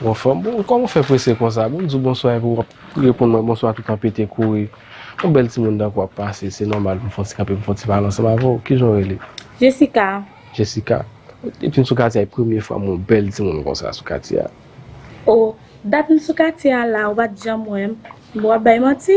Bon fanm, bon kòman ou fè prese konsa? Bon m di w bonswa epi w ap reponn mwen bonswa tout an pete kouri. Yon bèl timoun dan kou ap pase, se nòmal pou m fè yon ti kanpe pou m fè yon ti pale ansanm avè w. Ki jan w rele? Jessica. Jessica, depi m sou katye a e premye fwa m wè yon bèl timoun konsa sou katye a. O, dat m sou katye a la ou pa t janm wè m? Bon w ap bay manti?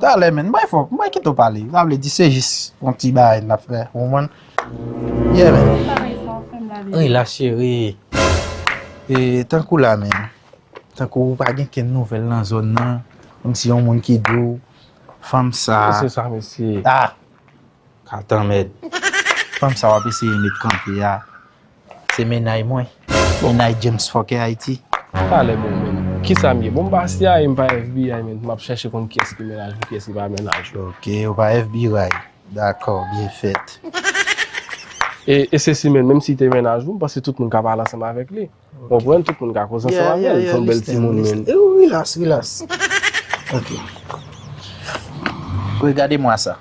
Talè menn bay fok mwen kite w pale sa vle di se jis yon ti bagay nap fè ou konprann yeah menn ui la cheri e tankou la menn tankou ou pa gen kenn nouvèl nan zòn nan menm si yon moun ki di w fanm sa mesye sa mesye ah katan mèd fanm sa wap eseye met kanpe a. Se mennaj mwen. Mennaj James fòkè Ayiti. Talè bon menm kisam ye bon m pa cia e m pa FBI men map chache konn kiyès ki mennaj mwen kiyès ki pa mennaj mwen. Ok ou pa FBI dakò byen fèt. E se si menn menm si te mennaj ou m panse tout moun ka pale ansanm avèk li ou konprann tout moun ka koze ansanm avèl li son bèl timoun menn. Relax relax ok. Regade mwa sa.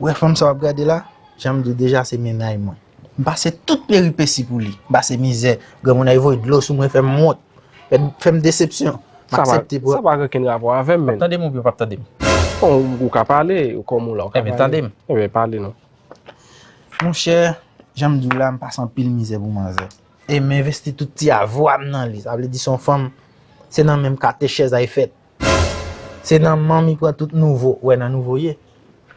Ou wè fanm sa wap gade la, janm diw deja se mennaj mwen. M pase tout peripesi pou li, m pase mizè, granmoun nan voye dlo sou mwen fè m wont, fè m desepsyon. M aksepte pou. Sa pa gen okenn rapò avè m menn. Wap tande m oubyen w pap tande m? Bon, ou ka pale, kòm ou la ou ka pale. Enben tande m. Enben pale non. Monchè, janm diw la m pase anpil mizè pou manzè. E m envesti tout ti avwa m nan li, sa vle di son fanm se nan menm kate chèz a e fèt. Se nan manmi pran tout nouvo. Ou wè nan nouvo ye?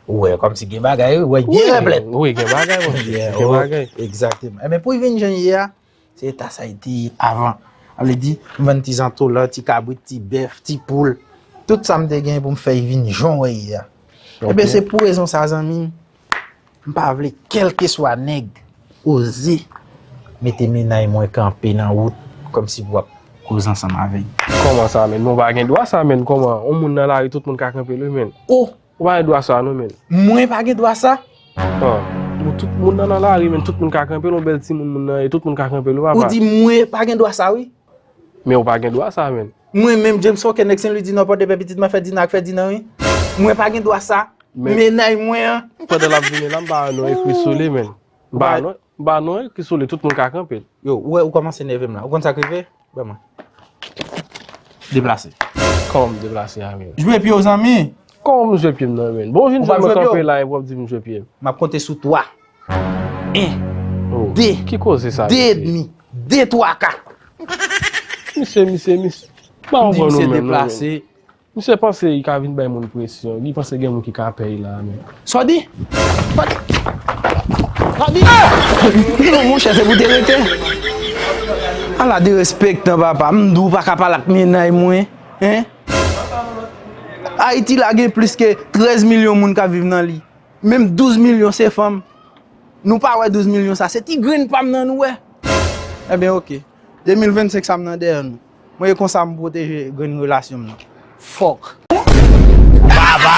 Ou wè kòm si gen bagay wi. Ou wè gen replèt. Wi gen bagay mwen. Gen bagay. Ekzakteman. Enben pou vin jan ye a, se eta sa li te ye avan. A vle di, m vann ti zantolan, ti kabrit, ti bèf, ti poul. Tout sa m te gen pou m fè vin jan wè ye a. Enben se pou rezon sa zanmi m. M pa vle kelkeswa nèg oze mete minay mwen kanpe nan wout komsi pou ap koze ansanm avè m. Koman sa menn? Men w pa gen dwa sa menn koman on moun nan lari tout moun ka kanpe l wi menn. Oh! Ou pa gen dwa sa non menn. Mwen pa gen dwa sa? An! Bon tout moun nan nan lari menn tout moun ka kanpe l on bèl timoun moun nan ye tout moun ka kanpe l wi papa. Ou di mwen pa gen dwa sa wi. Men ou pa gen dwa sa menn. Mwen menm James Foke nèg Senlwi di nò pòdepè pitit ma fè dina ak fè dina wi mwen pa gen dwa sa mennaj mwen an. Pandan lap vini la m pa wè non ekri sou li menn. M pa wè non ekri sou li tout moun ka kanpe l. Yo ou wè ou kòmanse nève m la ou konn sa k rive ban mwen. Deplase. Kòman m deplase a menn. Jwe pye w zanmi. Kòman m jwe pye m nan menn. Bon ou vin jwenn mwen kanpe la epi w ap di m jwe pye m. M ap konte sou 3. 1 2 Ki koze sa mesye. 2 edmi 2 twa ka. Misye misye misye pa anvan nou menm non men. Misye panse li ka vin bay moun presyon. Li panse gen moun ki ka pèy la menm. Sa w di? Sa w di? Non monchè se pou w te rete. Ala derespektan papa. M di w pa ka pale ak mennaj mwen. Ayiti la gen plis ke 13 milyon moun k ap viv nan li. Menm 12 milyon se fanm. Nou pa wè 12 milyon sa se ti grenn pam nan nou wè. Enben ok. 2025 sa m nan dèyè nou. Mwen e konsa m pwoteje grenn relasyon m nan. Fòk. Vava.